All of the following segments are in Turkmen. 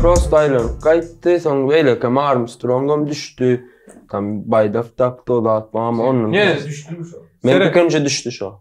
Prost aylanıp gaýtdy, soň beýleki Armstrongam düşdi. Tam baýdak dakdy o zat, bam onun. Ýene düşdümi şo? Men Seret. ikinji düşdi şo.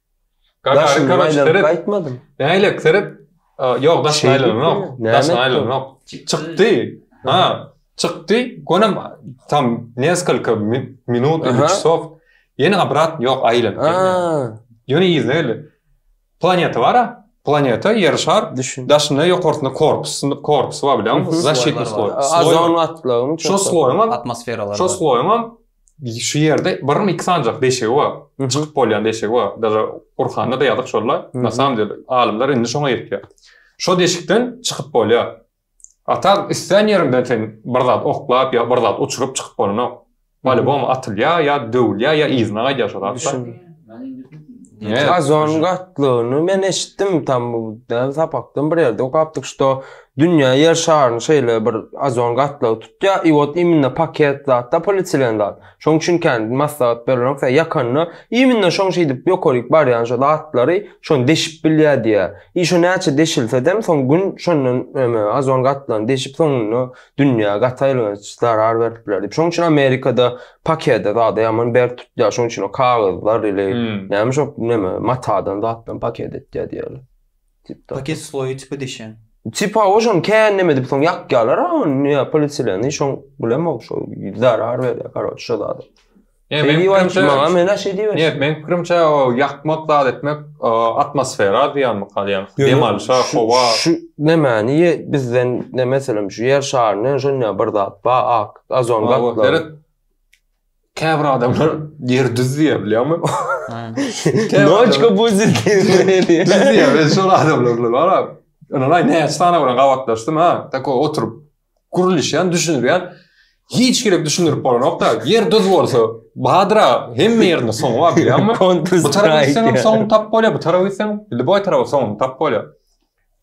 Gagarin koroç seret. Gaýtmadym. Näle seret. Ýok, daş aýlanok. Daş aýlanok. Çykdy. Ha, çykdy. Gonam tam neskalka minut, üç sok. Ýene abrat ýok aýlan. Ýöne ýerine geldi. Planeta bara. Planeta ýer şar. Daşynda ýokarsynda korpus, korpus bar bilen. Zaşitni sloý. Azon atlagyň. Şo sloýam atmosferalar. Şo sloýam Şu ýerde birim iki sanjak deşigi bar. Çykyp bolýan deşigi bar. Daja Gurhanda da ýazyk şolla. Na samom dele alymlar indi şoňa ýetýär. Şo deşikden çykyp bolýar. A tak islän ýeriňden sen bir zat oklap ýa bir zat uçuryp çykyp bolanok. Polibom atylýar ýa döwülýär ýa yzyna gaýdýar şo zat. Ozonyň gatlygyny men eşitdim tam bu däl sapakdan bir ýerde okapdyk şo Dünýä ýer şaryny şeýle bir ozon gatlagy tutýa i ot iminne paket zatda polietilen zat. Şoň üçin kän maslahat berilok sen ýakanda iminne şoň şeýdip ýokaryk barýan şo zatlary şon deşip bilýä diýä. I şo näçe deşilsedem soň gün şondan eme ozon gatlagyny deşip soňunda dünýä gaty aýylganç zarar berip biler diýip. Şoň üçin amerikada pakede zada ýaman berk tutýa şoň üçin o kagyzlar ili näme şo neme matadan zatdan paket etýä diýerler. Paket sloýy tipi dişen. Tipa oşon kän näme edip soň ýakýalar a ony ýa polietilen şoň bilemok şo zarar berýär karoç şo zada. Ýa men pikrimçe maňa men aş edýär. Ýa men pikrimçe o ýakmak zat etmek atmosfera zyýanly galýar. Dem alşa howa. Şu nämäni ýe bizden näme meselem şu ýer şaryny şonda bir zat ba ak azon gatlagy. Käbir adamlar ýer düz diýýär bilýärmi? Noçka bu diýýär. Düz diýýär. Ben şol adamlar bilen bar. Ynanaý näçe sany bilen gabatlaşdym ha. Tako oturyp gürleşýän, düşünýän. Hiç gerek düşündirip bolanokda. Ýer düz bolsa, badyra hemme ýerinde soňy bar bilýärmi? Bu tarap gitseň soňy tap bolýar, bu tarap gitseň, indi boý tarap soňy tap bolýar.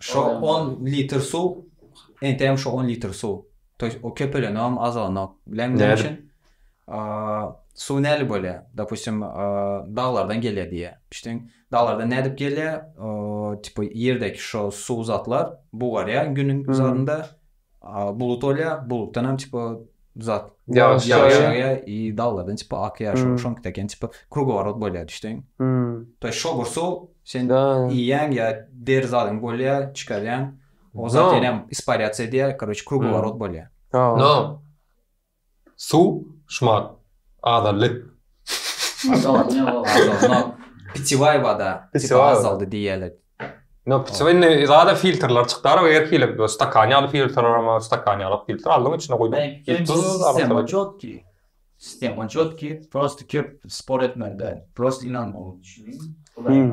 Şo on litr suw, entegem şo on litr suw. To ýest o köpelenogam, azalanok. Bilen näme üçin? Suw nädip bolýar? Dopustim, daglardan gelýär diýýär. Düşdüň? Daglardan nädip gelýär? Tipa ýerdeki şo suw zatlar bugarýar günüň zarynda. Bulut olýa, bulutdan hem çypa zat. Ýagyş ýagýa, i daglardan çypa akýa, şo şoň teken çypa krugoworot bolýa düşdiň. To ýa şogur suw sen iýýäň ýa deri zadyň bolýa, çykarýaň. O zat ýenem isparýatsiýa edýä, koroç krugoworot bolýa. No. Su şmar azaldy. Azaldy ýa ol azaldy. No pitiwaý wada tipa azaldy diýýäler. No pitiwaý indi zada filtrler çykdy ara her hili stakan ýaly filtrler hem bar stakan ýalak filtr aldyň içine guýdyň. Sistema çotki. Sistema çotki prosta köp spor etmeli däl. Prosta ynanma ol. Hudaýyň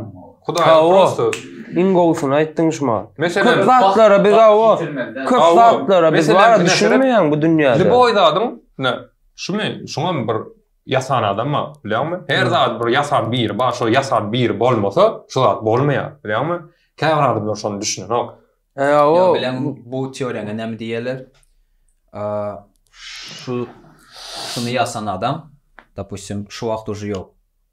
Hawa. prosto Iň gowusyny aýtdyň şumal. Köp meselem zatlara biz awa, köp Hawa. zatlara biz Meselem, bara bir meselem- düşünmeýän bu dünýäde. Liboý zadyň ne şumy şuňam bir ýasan adam bar bilýäňmi? Her Hı. zady bir ýasan biri bar, şo ýasan biri bolmasa şu zat bolmaýar bilýäňmi? Käbir adamlar şony düşünenok. E, Ýa o bilen bu teoriýaňa näme diýerler? Aa, Şu şuny ýasan adam, dopustim, şu wagt uje ýok.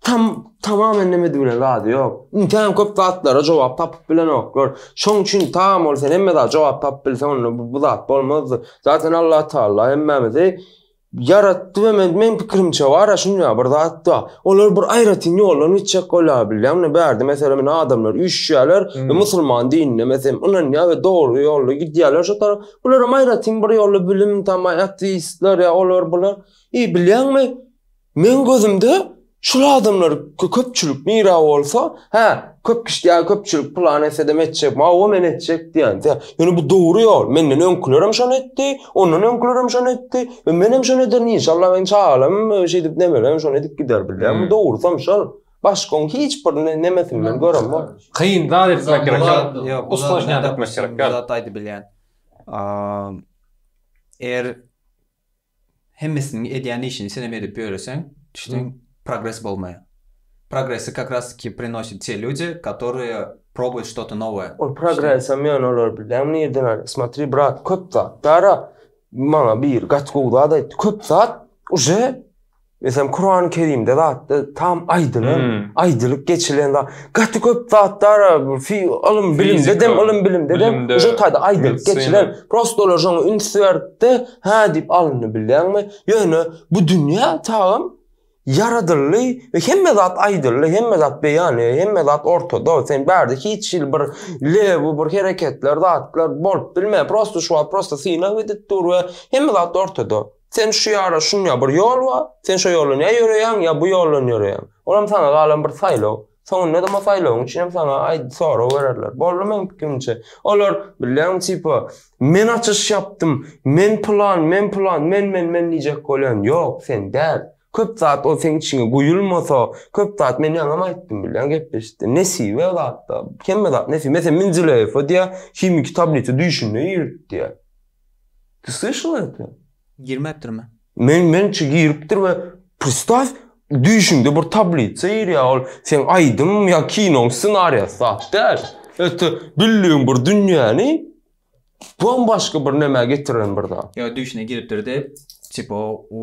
Tam tamamen näme diýene zady ýok. Intäm köp zatlara jogap tapyp bilenoklar. Şoň üçin tam ol sen hemme zat jogap tapyp bilseň onda bu, bu zat bolmazdy. Zaten Allah Taala hemmämizi ýaratdy we men, men pikirimçe bar şunda bir zat da. Olar bir aýratyn ýoldan gitjek bolýar bilýän. Mine bärde meselem mine adamlar üýşýärler hmm. we musulman dinine meselem ynanýar we dogry ýolda gidýärler şu tarap. Bular hem aýratyn bir ýolda bilim tamaý ateistler ýa olar bular. E bilýäňmi? Meň gözümde şul adamlar köpçülik nira bolsa hä köp kişi ýa köpçülik plan etsedem etjek mawa men etjek diýen diýä. Ýöne bu dogry ýol. Menden öňkülerem şony etdi, ondan öňkülerem şony etdi. E, menem şony ederin inşallah men çagalam e, şeýdip nemelem şony edip gider bilýär. Hmm. Bu dogrusam şol. Başgaň hiç bir nemesin men görem bol. Kyn zat etmek gerek. Ýok, usta şony etmek gerek. Zat aýdyp bilýän. Eger hemmesiniň edýän işini senem edip ýöreseň, düşleň, progres bolmaýar. Progresi kak ras ki prinosit te lýudi, katorýe probuýut ştoto nowoýe. Ol progresem ýöne olary bilýäňmi nirden alýar? Smotri, brat, köp zat bar-a. Maňa biri gaty gowy zat aýtdy. Köp zat uje Meselem Kurany Kerimde zatda tam aýdylan, hmm. aýdylyp geçilen zat. Gaty köp zatlar fi ilim bilimde dem ilim bilimde dem şu taýda aýdylyp geçilen. Prosta olar şoňa üns berdi, hä diýip alyndy bilýäňmi? Ýöne bu dünýä çagam ýaradyldy we hemme zat aýdyldy, hemme zat beýan, hemme zat ortada. Sen bärde hiç hil bir lew, bir hereketler, zatlar bolup bilme. Prosta şu wagt prosta syna gidip dur we hemme zat ortada. Sen şu ýara şunýa bir ýol bar, sen şo ýoldan ýa ýöreýäň, ýa bu ýoldan ýöreýäň. Olam saňa galan bir saýlaw. Soňundadam o saýlawyň üçinem saňa aý sorag bererler. Boldy meň pikirimçe. Olar, bilýäňmi, tipa, Men açyş ýapdym, men pylan, men pylan, men, men, men diýjek bolýan. Ýok, sen däl. Köp zat ol seň içiňe guýulmasa, köp zat men ýaňam aýtdym, bilýäň, gepleşikde. Nesibe zatda, hemme zat nesibe. Meselem, Menzileýew öýdýär, himiki tablisa düýşünde giripdi. Ty slyşal eti? Girmepdirmi? Men mençe giripdir we pristaw düýşüňde bir tablitsa girýär ol seň aýdym ýa kinoň ssenariýasy zat däl öte bildigiň bir dünýäni bambaşga bir nämä getiren bir zat. Ýa düýşüne giripdir dep tipo u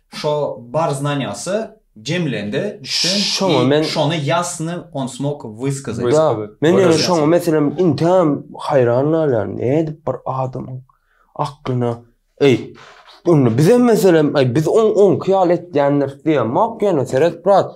Şo bar znanýasy jemlendi sen i şony ýasny on smok wyskazit. Ýa, men ýöne şoňa meselem inteýan haýran galýan, nädip bir adamyň aklyna, eý, onda bizem meselem, eý, biz oňki ýaly etýändiris diýemok ýöne seret brat,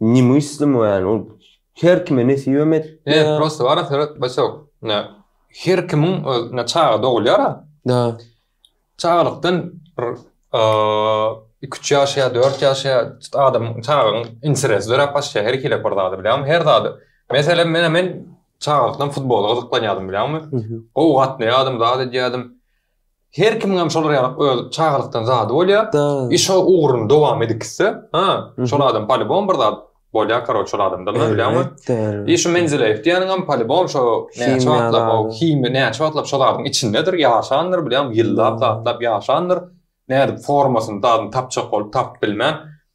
Ne müslim we yani ol her kime nesibem et. Ne prosta bara seret başak. Ne her kimin öz ne çaga dogulýar. Da. Çagalykdan bir iki üç ýaş ýa dört ýaş ýa adam çagaň interesi dörap başlaýar her hili bir zady bilýän her zady. Meselem men men çagalykdan futbola gyzyklanýardym bilýäňmi? Gowy gatnaýardym zat edýärdim. Her kimiňem şolar ýaly öz çagalykdan zady bolýa. I şo ugruny dowam edip gitse, ha, şol adam polibom bir zat bolýa karoç şol adamda men bilýämi. I şu Menzileýew diýeniňem polibom şo näçe wagtlap o himiýa näçe wagtlap şol zadyň içindedir, ýaşandyr bilýämi, ýyllap, zatlap ýaşandyr. Nädip formasyny, dadyny tapjak bolup tapyp bilmän.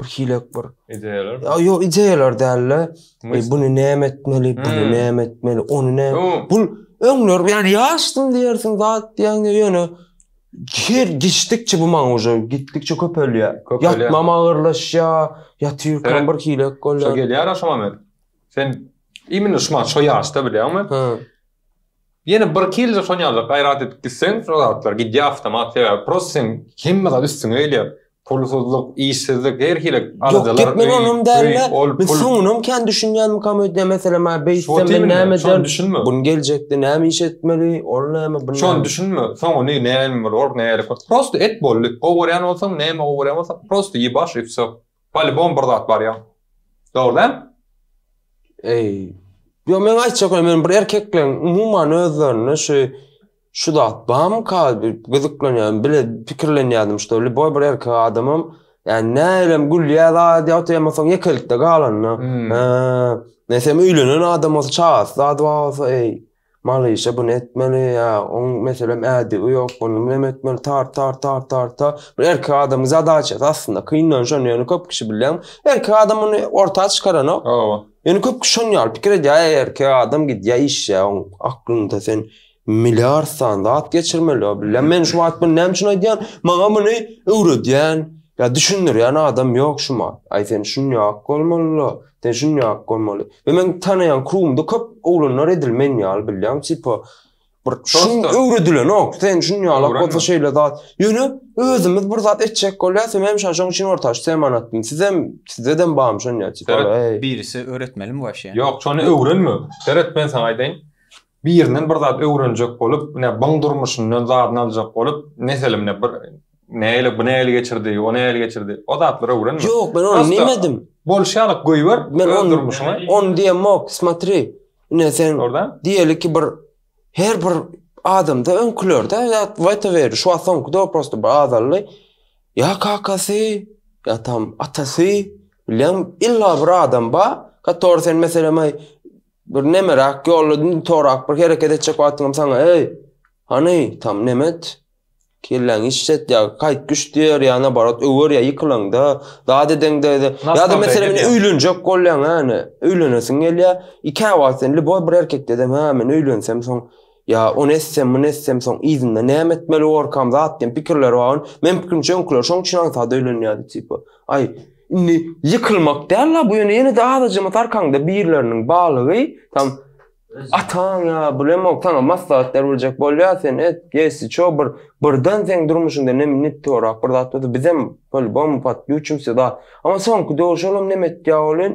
bir hilek bir ideýalar. Ýa ýok ideýalar däl-de. E, bunu näme etmeli, bunu hmm. näme etmeli, onu ne? Bu öňler yani ýaşdym diýersiň zat diýende ýöne her geçdikçe bu maňa uje gitdikçe köpelýär. Ýatmam agyrlaşýar, ýatyrkam bir hilek bolýar. Şo gelýär aşama men. Sen imенно şu maňa şu ýaşda bilýärmi? Ýene birki ýylda şony ýazar gaýrat edip gitseň şo zatlar gidýär awtomat sebäbi prosta seň hemme zat üstüňe gelýär pulsuzlyk işsizlik her hili aladalar öý öý ol pul Ýok gepleň onam dälde men soňunam kän düşünýänmikam öýdýän meselem ha beýtsem men näme ederin gün geljekde näme iş etmeli ol näme bu näme şony düşünme soňuny näme bolar nähili prosta et boldy gowy görýän bolsaň näme gowy görýän bolsaň prosta ibaş üfsek. Polibom bir zat bar ýa. Dogry däl? Eý. Ýok meň aýtjak ýa men bir erkekleň umuman özlerinde şu şu zat barmyka bir gyzyklanýan bile pikirlenýädim şuda liboý bir erkek adamam ýani nälerem gülýä zat ýa otyr emma soň ýekelikde galanda. Eee. Nesem öýlenen adam bolsa çagasy zady bar bolsa eý. Malyşa buny etmeli ýa oň meselem ädigi ýok ony munem etmeli tart tart tart tart ta bir erkek adamyň zadaçasy aslynda kyndan şony ýöne köp kişi bilýän erkek adam muny orta çykaranok Hawa. Ýöne köp kişi şony ýaly pikir edýär äý erkek adam gidýär işýär oň aklynda sen milliard sany zat geçirmeli ýa bilýän men şu wagt muny näme üçin aýdýan maňa muny öwredýän ýa düşündirýän adam ýok şumat aý sen şunýak bolmalyda. Düşünýäňok bolmaly. Ýa meň tanaýan krugumda köp oglanlar edil men ýaly bilýäňmi tipa bir şun Dostlar. öwredilenok. Sen şun ýalak Öwrenme. bolsa şeýle zat. Ýöne özümiz bir zat etjek bolýas we men şa şoň üçin orta aç teman atdym. Sizem sizedem barmy şon ýaly tipa Seret, ey. Birisi öwretmelimi waşýa? Ýok, şony öwrenme. Seret, men saňa aýdaýyn. Birinden bir zat öwrenjek bolup, ne byň durmuşyndan zadyny aljak bolup, meselem, ne bir nägile, bu nägile geçirdi, o nägile geçirdi, o zatlary öwrenme. Ýok, men ony diýmedim. Bolşýalyk goýber öz durmuşyňy. Ony diýemok, smatri, ine sen diýeli ki bir her bir adamda öňkülerde zat waýtaberdi, şu wagt soňky döwür prosto bir azaldy. Ýa kakasy, ýa tam atasy, bilýäňmi, illa bir adam bar, который sen meselem, Bir nemerak ýolda indi torak bir hereket etjek wagtyňam saňa eý, hany, tam nemet, kelläňi işlet ýa gaýt güş diýer ýa nabarat öwer ýa ýykylaňda, zat edeňde de. Ýa-da meselem indi öýlenjek bolýaň hany, öýlenesiň gelýär, ikä wagtdan indi boý bir erkek dedeň hä men öýlensem soň, Ýa ony etsem, muny etsem, soň yzynda näme etmeli borkam, zat diýen pikirler bar. Meň pikirimçe öňküler şoň üçin aňsat öýlenýärdi tipa. Aý, indi ýykylmak däl-la bu ýöne ýene-de azajyňat arkaňda birleriniň balygy, tam ataň ýa bilemok saňa maslahat berbiljek bolýar, sen et, gesi ço bir birden seň durmuşyňda nem nittorak bir zat bolsa bizem polibom patbýuçimsi zat. Amma soňky döwür şolam nem etýär welin,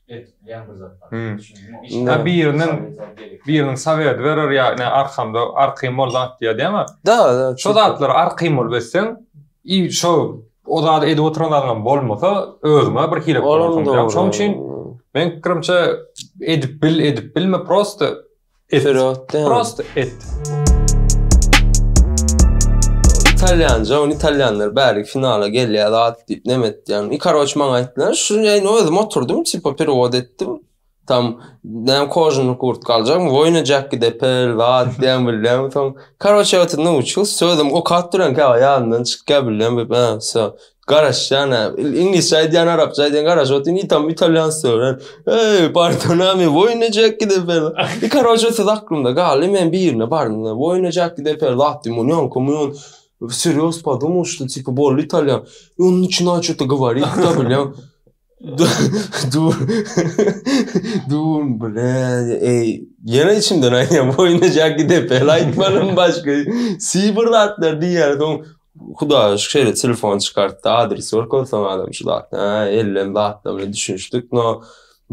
Etdilen bir zat bar. Düşündüňizmi? Biriniň biriniň sowet berer ýa ne arkamda arkym bol zat diýer däme. Da, da. Şo zatlar arkym bol beseň, i şo o zat edip oturan adam bolmasa, özüňe bir hile. Şoň üçin men pikirimçe edip bil, edip bilme prosta. Et. Prost et. Italýanja, ony italýanlar bäri finala gelýär zat diýip näme etýän. I karoç maňa aýtdylar, şu ýaýny özüm oturdym, tipa perewod etdim. Tam näme kožuny kurt galjakmy, woýna jäkki depel zat diýen bilýän. Soň karoç ýa oturdym, şu sözüm okap duran käwagt ýadymdan çykýar bilýän, bu söz. Garaş ýana iňlisçe aýdýan arapça aýdýan garaş otyň itam italýansça öwren. Eý, partonami woýna jack gidip ber. I karoçe söz aklymda galdy men birine bardym da woýna jack gidip ber zatdy mun ýon komu ýon serýoz podumuşdy tipi boldy italýan. Ýon niçina çuta gowari ýa bilýan. Dur. Dur bilen. Ey, ýene içimden aýdýan boýuna jak gidip el aýtmanym başga. Sibir zatlar diýýär. Soň Hudaýa şükür şeýle telefon çykartdy, adres görkezdi soň adam şu zat. Ha, ellem zatlar bilen düşünişdik. No,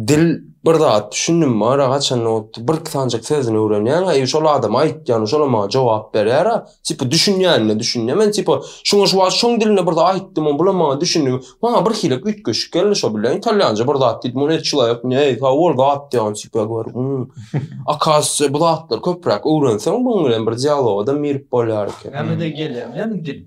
dil bir zat düşündim mara haçan otdy. Bir sanjak sözüni öwrenýän, eý şol adam aýtýan, şolam maňa jogap berýär. Tipa düşünýänine düşünýän. Men tipa şoňa şu wagt şoň dilinde bir zat aýtdym, on bulam maňa düşündi. Maňa bir hilek üýtgeşik geldi şo bilen italýança bir zat diýdim. Ony çylaýyk, ne, sag bol zat diýen tipa gör. Akasya bu zatlar köpräk öwrenseň, buň bilen bir dialoga da mirip bolýar eken. Näme de gelýär, näme dil.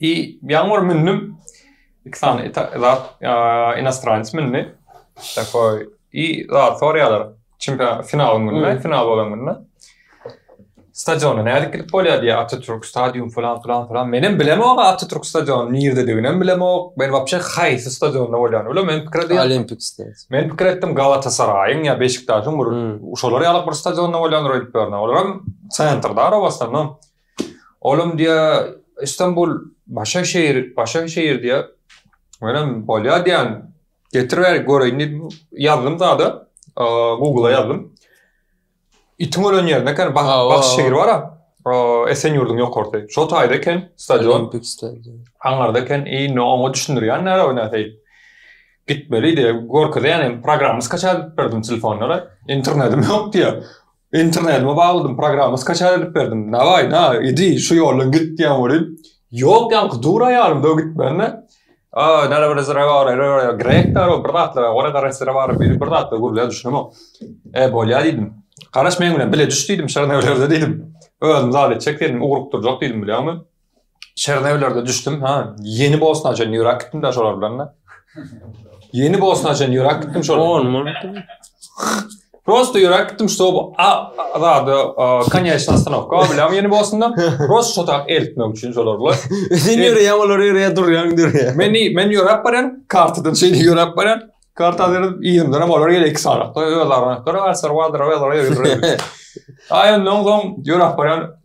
I ýaňy bir mündüm. Iki sany zat inostranec mündi. Takoý i zat sorýarlar. Çempion final gününde, final bolan gününde. Stadiona nädip gidip bolýar diýär Atatürk stadium falan falan falan. Menem bilemok Atatürk stadiony nirdedigini hem bilemok. Men wapşe haýsy stadionda bolýany bilemok. Men pikir edýän Olimpik stadion. Men pikir etdim Galatasaraýyň ýa Beşiktaşyň bir uşalar ýaly bir stadionda bolýandyr öýdüp ýörün. Olar hem sentrda arabasynda. Olam diýýär, Istanbul başga şeýir, başga şeýir diýýär. Menem bolýar diýýän, getir bäri göreýin diýdim. Ýazdym zada, Google-a ýazdym. Itiň ölen ýerinde eken, bak, bak şeýir bar-a. Esenýurduň ýokarsy. Şo taýda eken stadion. Aňarda eken, indi oňa düşündirýän näre o näteý. Gitmeli diýip, görkezýän hem programma skaçat berdim telefonlara. Internetim ýok diýýär. Internetyma bagladym, programma skaçar edip berdim. Naway, na, idi, şu ýoldan git diýen welin, ýok, ýaňky dur aýalym döw gitmände. A, näle bir zre bar, re, re, grekler, o bir zatlar, ora gara zre bar, biri bir zatlar gürlär, düşünemok. E, bolýar diýdim. Garaş meň bilen bile düş diýdim, şa näwlerde diýdim. Özüm zat etjek diýdim, ugrukdyrjak diýdim, bilýäňmi? Çernewlerde düşdüm, ha, ýeni Bosna üçin ýürak gitdim de şolar bilen. Ýeni Bosna üçin ýürak gitdim şolar. On mul. Prosta ýürak gitdim, şo bu azada konýaçna ostanowka, biläm ýeni Bosna. Prosta şo tak eltmek üçin şolar bilen. Sen ýöre ýa olar ýöre ýa durýan dur ýa. Men men ýöräp barýan, kartadan şeýle ýöräp barýan. Karta berip, ýerinden hem olar gelip iki sagatda öz arana. Gara garsar, wadyr, wadyr, wadyr. Aýan noň soň ýöräp barýan.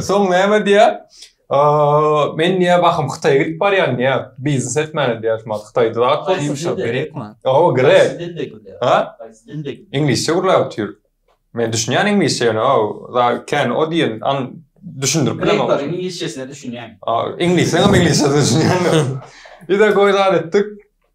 Soň näme diýýär? Men diýýär, bahym Hytaýa gidip barýan diýýär. Biznes etmäne diýýär, şumat Hytaýda zat bolupmuşam. Grekmi? Oba, grek. Ha? Iňlisçe gürläp otyr. Men düşünýän iňlisçe ýöne o, kän o diýen aň düşündirip bilemok. Grek bar, iňlisçesine düşünýän. Iňlisleň hem iňlisçesine düşünýän. Ýa-da goý zat etdik.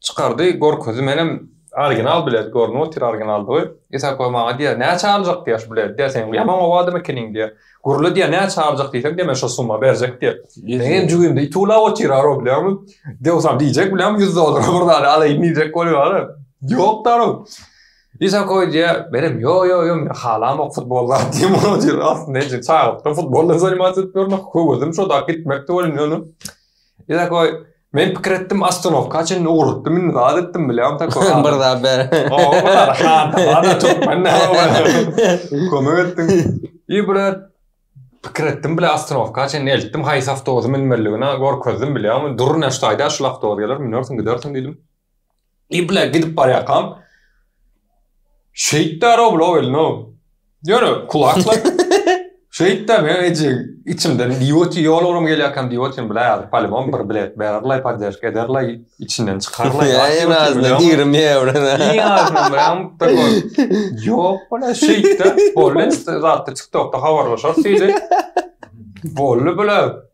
Çykardy görkezi menem original bilet görnüp otyr originaldygy Isako maňa diýýär näçe aljak diýýär şu bileti diýýär seň ýaman ow adam ekeniň diýýär gürle diýýär näçe aljak diýseň diýýär men şo summa berjek diýýär meň hem jübimde it uwlap otyr arow bilýäňmi dewsam diýjek bilýäňmi ýüz dollara bir zady alaýyn diýjek bolýar arow ýok da arow Isako diýýär menem ýo ýo ýo men halamok futbol zat diýýän bolýan otyr aslynda ençe çagalykdan futbol bilen zanimatsyz etip ýörün höwezim şo dagy gitmekdi welin ýöne Takoý, Men pikir etdim, ostanowka çenli ugrukdym, indi zat etdim bilýän takoý. Bir zat ber. Hada türkmen ne bolýar? Kömek etdim. Ýe bile pikir etdim bile ostanowka çenli eltdim, haýsy awtobusa münmeliligini görkezdim bilýäňmi? Durun, şu taýda şu awtobus geler, münersiň gidersiň diýdim. Ibla gidip barýakam Şeýt däro bula welno. Ýöne kulaklar Şeýt däro men eje içimden diýoti ýol urum gelýärkäm diýotim bile ýazyp palymam bir bilet bererler poddeşk ederler içinden çykarlar. Ýa nazna diýirim ýa ora. Ýok bula şeýtde bolýar zatda TikTokda habarlaşar diýdi. Bolly bula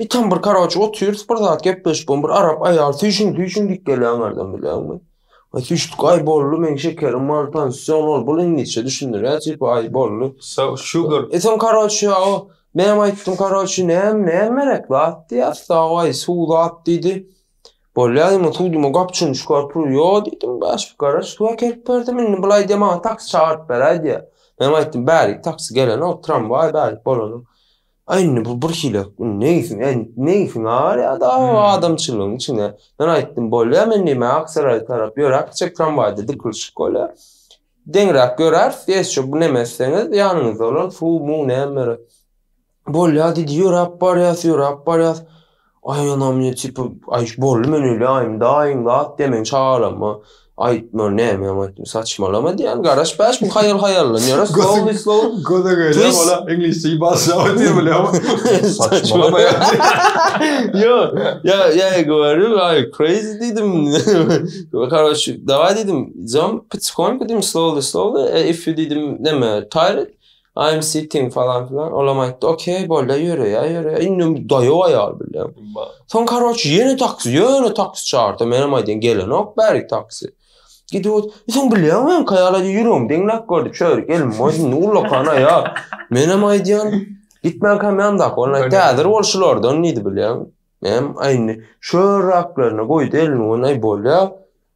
Bir tam bir karoç otyrs bir zat gepleşip bir arap aýal süýşün süýşün diýip gelýän adam bilenmi? Ay süýşdük ay bolly men şekerim mal tansiýon ol bul iňlisçe düşündirýär tipi ay bolly. So sugar. E sen karoç ýa o men aýtdym karoç näm näm merek zat diýär so ay suw zat diýdi. Bolýar ýa suwdyma gapçyny çykaryp dur ýo diýdim baş bir karoç suw äkelip berdim indi bulaý diýe maňa taksi çagyryp beräý diýär. Men aýtdym bärik taksi gelenok tramwaý bärik bolany. Aý indi bu bir hilek, indi neýsin, e, neýsin ar ýa da Hmm. adamçylygyň içine. Men aýtdym, bolýa men diýme Aksaraýa tarap ýöräp gitjek tramwaýda dikilşik bolýa. Deňräk ýöräris, geç şu bu neme etseňiz ýanyňyzda bolan suw-muw näme berer. Bolýa diýdi, ýöräp barýas, ýöräp barýas. Aý ana men tipa aý boldy men öýle aýym daýyň zat diýen men çagalama aýtma näme ýaňy aýtdym saçmalama diýen garaş bäş bu haýal haýallan ýöne slowly slowly göze göre ola iňlisçe başla diýip bilýär saçmalama ýa ýa ýa gördüm aý crazy diýdim karoç dawaý diýdim zom pitskonka diýdim slowly slowly if you diýdim näme tired I am sitting falan filan olam aýtdy ok bolýa ýöreýa ýöreýa indi daýaw aýal bilýän soň karoç ýene taksi ýöne taksi çardy menem aýdýan gelenok bärik taksi gidip ot soň bilýän men kaýala ýüregim deňläp gördi çör gelin moý indi ullakan aýal menem aýdýan gitmän kam ýandaky ola aýtdy häzir ol şulardan diýdi bilýän menem aýndy şör raklaryna goýdy elini ony bolýa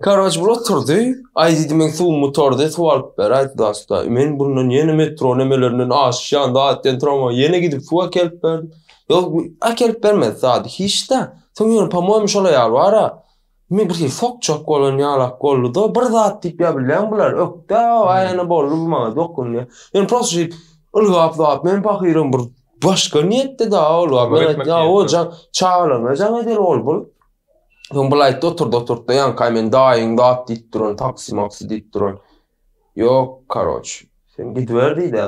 Karoç bul oturdy. Aý diýdi men suwumy tordy, suw alyp ber aýt dasta. Men bundan ýene metro nemelerinden aşyş ýan daýatden tramwaý ýene gidip suw äkelip berdim. Ýok äkelip bermedi zady hiçda. Soň ýöne pomoýmy şol aýal bara. Men bir hili sokjak bolan ýalak bolduda bir zat diýip ýa bilýän bular ökde aýana boldy bu maňa dokundy. Men prosta şeýdip ylgap zat men pahyram bir başga niýetde da ylgap men aýtdym ýa o jaň çagalaryna jaň edeli ol bul. Soň bulaýtda oturdy, oturtda ýaňky aý men daýyň zat diýip duran, taksi maksi diýip duran. Ýok, karoç, sen gidiber diýdi.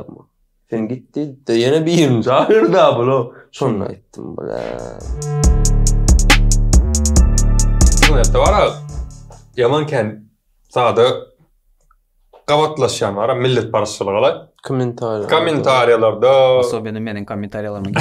Sen git diýdi. Ýene birini çagyrda bula. Şonda aýtdym bula. Şonda bara. Ýaman kän sada gabatlaşýan bara millet barşylygy ala. Kommentariýa. Kommentariýalarda. Osobini meniň kommentariýalaryma.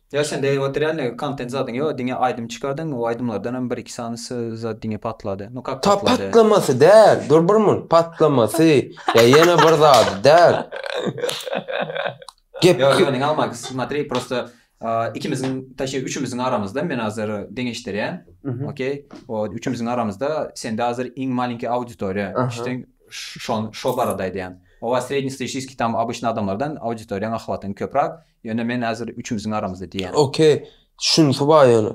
Ýa sen degip oturýan dek kontent zadyň ýok diňe aýdym çykardyň o aýdymlardan hem bir iki sany zat diňe patlady no kak patlady. Ta patlamasy däl dur bir munt patlamasy ýa ýene bir zady däl gep Ýok ýok diňe alma smatri prosta ikimiziň taşşi üçimiziň aramyzda men hazir deňeşdirýän okey o üçimiziň aramyzda sende hazir iň malinki auditoriýa düşdüň şo barada aýdýan o srednestatistiskiý tam obişnýý adamlardan auditoriýaň ahwatyň köprak Ýöne men häzir üçümiziň aramyzda diýýän. Ok, şunysy bar ýöne.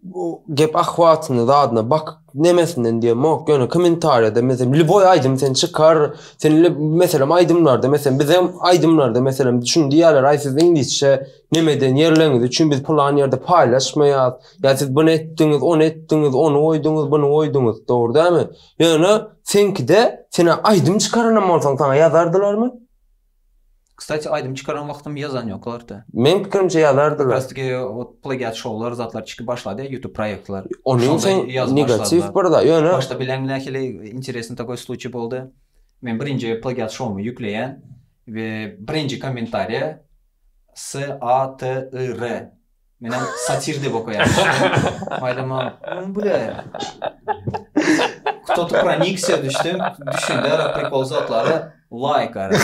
Bu gep ahwatyna zadyna bak nemesinden diýemok ýöne kommentariýada meselem liboý aýdym sen çykar sen meselem aýdymlarda meselem bizem aýdymlarda meselem şuny diýýärler aý siz iňlisçe nemeden ýerleňiz üçin biz pylan ýerde paýlaşmaýas ýa siz buny etdiňiz ony etdiňiz ony goýduňyz buny goýduňyz dogry dälmi ýöne seňkide sen aýdym çykaranam bolsaň saňa ýazardylarmy Kstati aýdym çykaran wagtym ýazan ýok orta. Meň pikirimçe ýazardylar. Kastiki ot plagiat şowlar zatlar çykyp başlady ýutub proýektler. Onuň üçin negatiw bir zat ýöne. Başda bileň nähili interesny takoý sluçi boldy. Men birinji plagiat şowumy ýükleýän we birinji kommentariýa s a t y r. Menem satir dep okaýan. Maýdama. Oň bile. Kto tu pronikse düşdüm. Düşünde ara prikol zatlara laýk ara.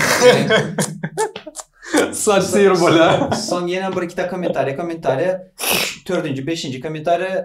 Satir bola. Soň ýene bir iki ta kommentariýa, kommentariýa. Dördünji, beşinji kommentariýa.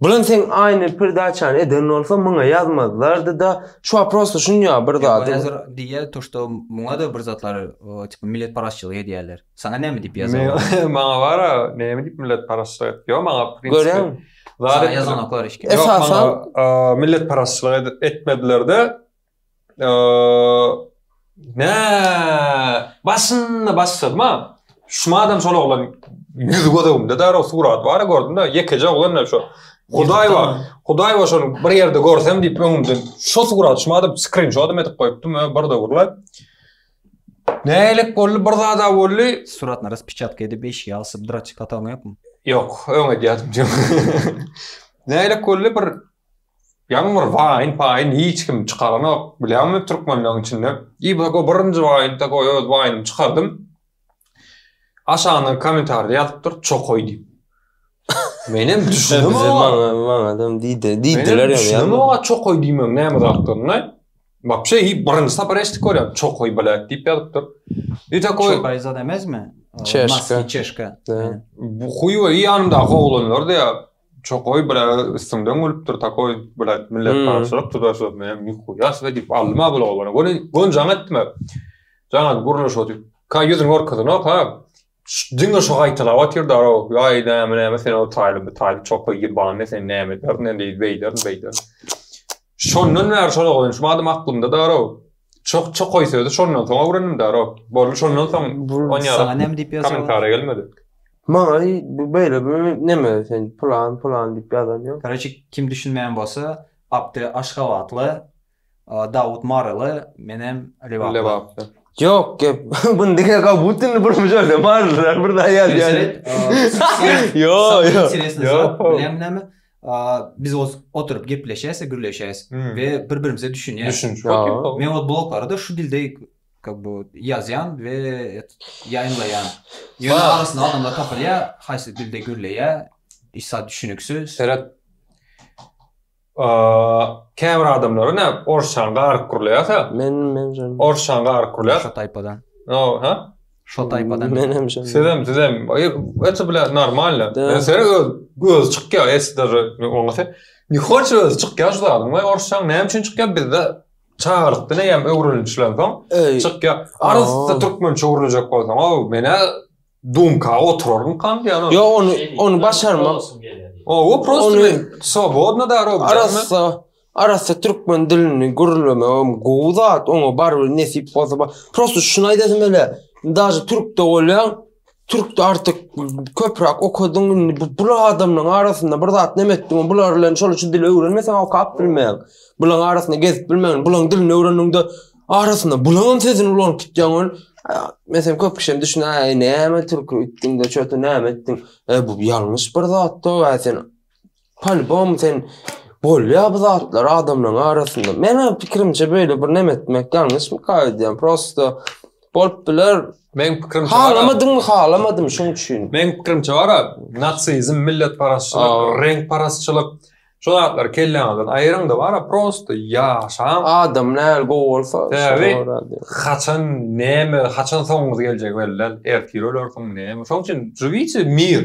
Bulan seň aynı perdaçany eden bolsa muňa yazmazlardy da şu waprosda şunýa bir zady. Ýa hazir diýýä to şto muňa da bir zatlar tipa millet parazçylyk edýäler. Saňa näme diýip ýazar. Maňa bara näme diýip millet parazçylyk et. Ýok maňa prinsipi. Görýäňmi. Saňa ýazanoklar hiç kim. Ýok maňa millet parazçylyk etmediler de Nä, başynda başladym-a. Şumadam şol oglan ýüzi göz öňümde däl, o surat bar, gördüm-de, ýekeje oglan-da şo. Hudaý bar, Hudaý bar, şony bir ýerde görsem diýip öňümden şo surat şumadam skrinşodam edip goýupdym, bir döwürler. Nälik boldy, bir zad-a boldy. Suratyny raspiçatka edip eşige asyp dra çykatanňy ýokmy? Ýok, öň edýärdim. Nälik boldy, bir Ýaňy bir waýn paýyn hiç kim çykaranok bilýäňmi türkmenleň içinde. I bu go birinji waýn da goý öz waýnym çykardym. Aşagyna komentarda ýazypdyr çokaý diýip. Menem düşündim o. Maňa maňa adam diýdi. Diýdiler ýa. Düşündim o çokaý diýmegiň näme zatdygyna. Wapşe hiç birinji sapar eşitdik görýän çokaý blät diýip ýazypdyr. I takoý çokaý zat emesmi? Çeşka. Çeşka. Bu huýwa ýanymdaky oglanlar diýýär. Çokoý bile üstüňden gülüpdir takoý bile millet parçalyk tutar sözüne hem nihuýa diýip aldym-a bul oglany. Göni göni jaň etme. Jaňa gurluş otyp. Ka ýüzüni görkezenok ha. Diňe şo gaýtalap otyrda-ow. Ýaý näme näme sen ol taýlymy taýly çokoý ýybany sen näme ederin indi beýdermi beýdermi. Şondan bäri şol oglan şu adam aklymda-da-ow. Çok çok koy sözü şondan soň öwrendim da rok. Boldu şondan soň on ýara. Sana näme diýip ýazýar? Kommentariýa gelmedi. Maňa bu beýle bu näme sen plan plan diýip ýazan ýok. Koreçi kim düşünmeýän bolsa Abdy Aşgabatly, Dawut Maryly, menem Lebaply. Lebaply. Ýok gep. Bunu diýen ka bu tünni bir mujerde bardylar bir da ýazýar. Ýok ýok. Ýok. Näme näme? Biz oz oturyp gepleşäs, gürleşäs we bir-birimize düşünýäs. Düşünç. Men oz bloglarda şu dilde как бы ýazýan we ýaýynlaýan. Ýöne arasynda adamlar tapylýar, haýsy dilde gürleýär, hiç zat düşüniksiz. Seret. Käbir adamlar näme orsçany garyp gürleýärse. Men men. Orsçany garyp gürleýär. Şu taýpadan. No, ha? Şo taýpadan. Men hem şonda. Sizem, sizem. Eti bile normalny. Men seni öz göz çykýar, esder oňasy. Ni hoç öz çykýar şu zadyň. Wä orşan näme üçin çykýar bizde? Çagalykda ne ýam öwrenilen soň çykýar. Arasda türkmen çowruljak bolsaň, o menä dumka oturaryn kan diýen. Yo onu onu başarmak. O o prosto swobodno darog. Arasda Arassa türkmen dilini gürlemegem gowy zat, oňa barybir nesip bolsa bar. Prosta şuny aýdasym ele, daže türkde bolýaň, türkde artyk köpräk okadyň, indi bu bul adamlaryň arasynda bir zat neme etdiň, bular bilen şol şu dili öwrenmeseň okap bilmeýäň. Bulaň arasynda gezip bilmeýäň, bulaň dilini öwrendiňde arasynda bulaňam sözüni ulanyp gitýäň ol. Meselem köp kişem düşüne, äý näme türkü itdiňde çöti näme etdiň? E bu ýalňyş bir zatda, sen Polybom sen bolýa bu zatlar adamlaryň arasynda. Meniň pikirimçe böyle bir nem etmek ýalňyşmyka öýdýän. Prosto bolup biler. Meň pikirimçe bar. Halamadyňmy halamadym şoň üçin. Meň pikirimçe bar a natsizm, milletparazçylyk, reňkparazçylyk şu zatlary kelläňizden aýyryň da bar a prosto ýaşaň. Adam näl gowy bolsa şoňa görä diýip. Haçan näme haçan soňuňyz geljegi belli däl. Ertir ölersiň näme. Şoň üçin živite mir.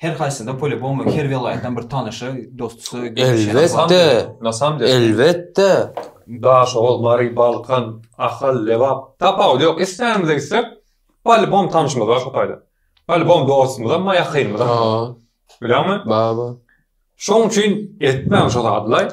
Her haýsysyna polýubomy her welaýatdan bir tanysy, dostusy, gelmişi bar. Elbetde, Nasamder. Elbetde. Daşoguz, Mary, Balkan, Ahal, Lebap, tapawudy ýok. Islänize gitsek, polýubom tanşymyz bar şo taýda. Polýubom dostumyzam bar, ýakynymyzam bar. Bar. Bilýäňmi? Bar, bar. Şoň üçin etmäň şo zadlaý.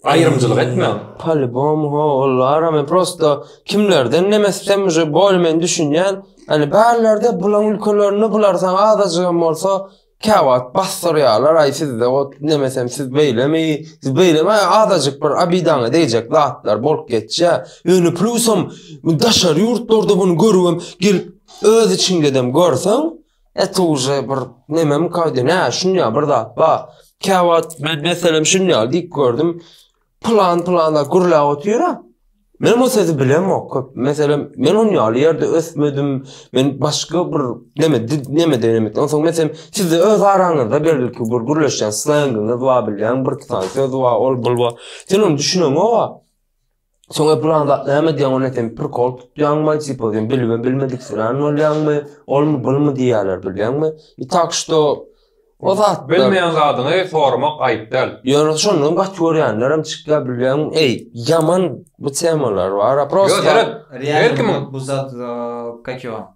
Aýrymçylyk etmäň. Polibom ho olara men prosta kimlerden nemesem uje bol men düşünýän. Hani barlarda bulan ülkelerinde bular saň azajyk hem bolsa käwagt basdyrýarlar aý sizde o nemesem siz beýlemi siz beýlemi azajyk bir abidaňa deýjek zatlar bolup geçýär. Ýöne plusam daşary ýurtlarda bunu görübem gelip öz içiňdedem görseň Et uje bir nemem kaydy ne şunya bir zat ba. Kavat ben meselem şunya diyip gördüm. Plan plan da gürlä otyra. Men o sözü bilem o köp. Mesela men onun yalı yerde ösmedim. Men başka bir neme neme denemek. Ondan sonra mesela siz de öz aranızda belki bir gürleşen slanginiz var bilyan bir tane söz var ol bulva. Sen onu düşünen o var. Soňra plan zat näme diýýäň ony sen prikol tutýaňmy, tipa sen bilme bilmedik sürän bolýaňmy, olmy bulmy diýýärler bilýäňmi? I tak şto o zat bilmeýän zadyňy soramak aýyp däl. Ýöne şondan gaty görýänlerem çykýar bilýäňmi? Eý, ýaman bu temalar bar-a prosta. Ýok, her kim bu zat kakio.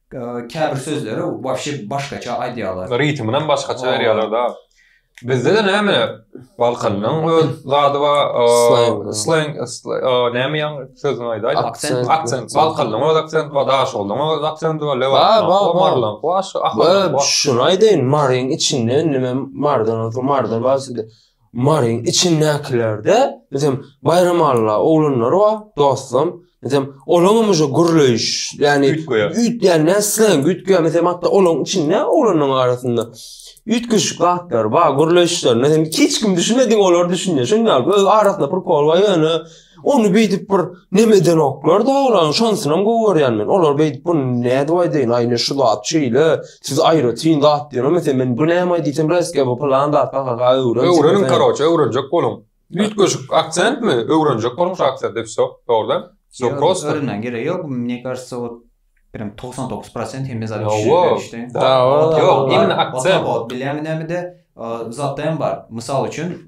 Käbir sözleri wapşe başgaça aýdýarlar. Ritminam başgaça berýärler da. Bizde-de näme Balkanynyň öz zady bar. Sleng näme ýaň sözüni aýdaýda. Aksent. Aksent. Balkanynyň öz aksenti bar, daşogulyň öz aksenti bar. Bar, bar, bar. Şuny aýdaýyn, Maryň içinde indi men Marydan, Marydan bar. Maryň içindäkilerde bizem Baýram Alla oglanlary bar dostum. Bizem olaňam uje gürleýiş ýany üýtgäýen näme isleýän üýtgäýen bizem hatda olaň içinde oglanlaryň arasynda üýtgeşik zatlar bar gürleýişlerine hiç kim düşünmediň olar düşünýär şonda öz arasynda prikol bar ýöne Ony beýdip bir nem edenoklar da olar, şonsynam gowy görýän men. Olar beýdip bu nädip aýdaýyn, aýna şu zat şeýle, siz aýratyn zat diýen, meselem men bu näme aýdyýsam resge bu plan zat ha öwren. Öwreniň karoçe, öwrenjek boluň. Üýtgeşik aksentmi? Öwrenjek boluň şu aksent, depse, dogrudan. Öwrenmäň geregi ýok, mne karsa ot. Birem 99 prosent hem mezar kişi berişdi. Yok, imin akse. Ot bilemi nemi de zatda hem bar. Misal üçin,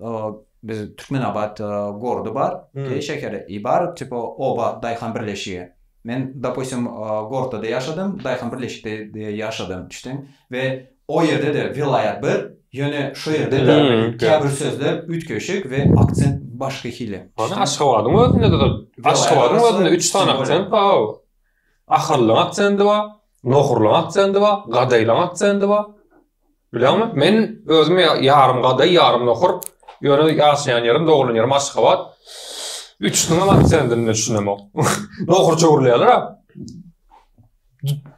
biz Türkmen Abat gordy bar. Ey şekeri, ibar tipa oba dayhan birleşigi. Men dopustim gortda da yaşadym, dayhan birleşikde de yaşadym. Düşdün? Ve o yerde de vilayat bir, yöne şu yerde de kabir sözler ütkeşik ve akcent başka hili. Aşgabadyň özünde de, aşgabadyň özünde üç tane akcent bar. Ahyrlyň aksendy bar, nohurlyň aksendy bar, gadaýlyň aksendy bar. Bileňmi? Men özüm ýarym gadaý, ýarym nohur. Ýöne ýaşaýan ýerim, doglan ýerim Aşgabat. Üçüsiniň hem aksendini düşünemok. Nohurça gürleýärler-ä.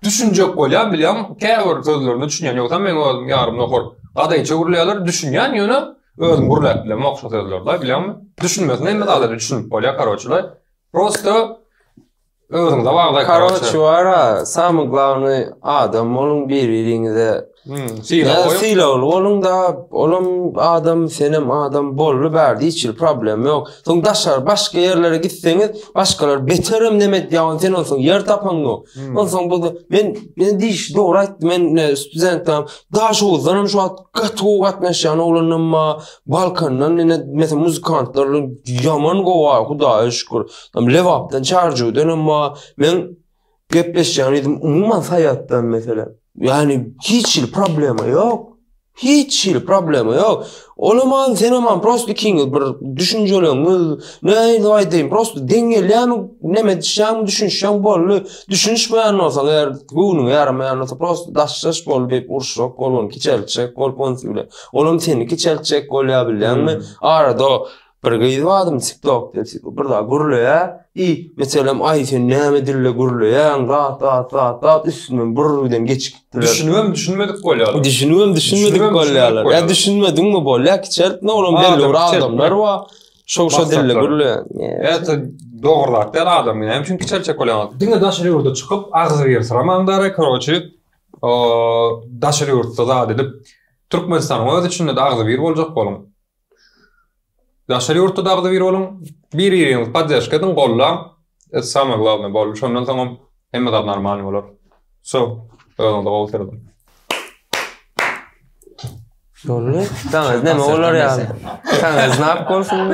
Düşünjek bolýan, bilýän, käbir sözlerine düşünýän, ýogsam men özüm ýarym nohur. Gadaýça gürleýärler, düşünýän, ýöne özüm gürläp bilemok şo sözleri-de, bilýäňmi? Düşünmesine hem, mysal ýaly, düşünip bolýar, karoçe-le. Prosto Özüňize bagly. Karoç wara, samy glawny adam boluň bir-biriňize. Hmm, Sylagly boluň da, olam adam, senem adam bolly bär diýçil problem ýok. Soň daşary başga ýerlere gitseňiz, başgalar beterem neme edýän, sen onsoň ýer tapaň ýok. Hmm. Onsoň bu men men diýiş dogry aýtdy. Men studentam daş owuzdan şu wagt gaty gowy gatnaşýan oglanam bar. Balkandan ine mesela muzykantlar ýaman gowy, Hudaýa şükür. Am Lebapdan Çarjuwdan emma men gepleşýän edim umuman Saýatdan meselem. Ýani hiç hili problema ýok. Hiç hili problema ýok. Olam an sen hem an prosta ikiňiz bir düşünjeleňiz. Ne edip aýdaýyn prosta deň gelýämi neme edişýäňmi düşünişýäň boldy. Düşünişmeýän bolsaň eger göwnüňe ýaramaýan bolsa prosta daşdaş bol diýip uruşjak bol ony kiçeltjek bol onsi bilen. Olam seni kiçeltjek bolýar bilýäňmi? Arada Bir gyz badym tiktok depsiko bir zat gürleýä i meselem aý sen näme dilde gürleýäň zat zat zat zat üstünden bir birden geçip gitdiler düşünibem düşünmedik bolýarlar düşünibem düşünmedik bolýarlar ýa düşünmediňmi bolýa kiçeltme olam belli bir adamlar bar şo şo dilde gürleýär dogry zat däl adam näme üçin kiçeltjek bolýaň diňe daşary ýurda çykyp agzy bir syramaň dara koroçi daşary ýurtda zat edip türkmenistanyň öz içinde agzy bir boljak boluň Daşary ýurtda dagda bir boluň, bir biriňizi poddeşka ediň, gollan. Et same glawne boldy. Şondan soňam hemme zat normalny bolar. So, özüňize gowy seredin. Boldy. Daňyz näme bolar ýaly. Daňyz nap bolsun.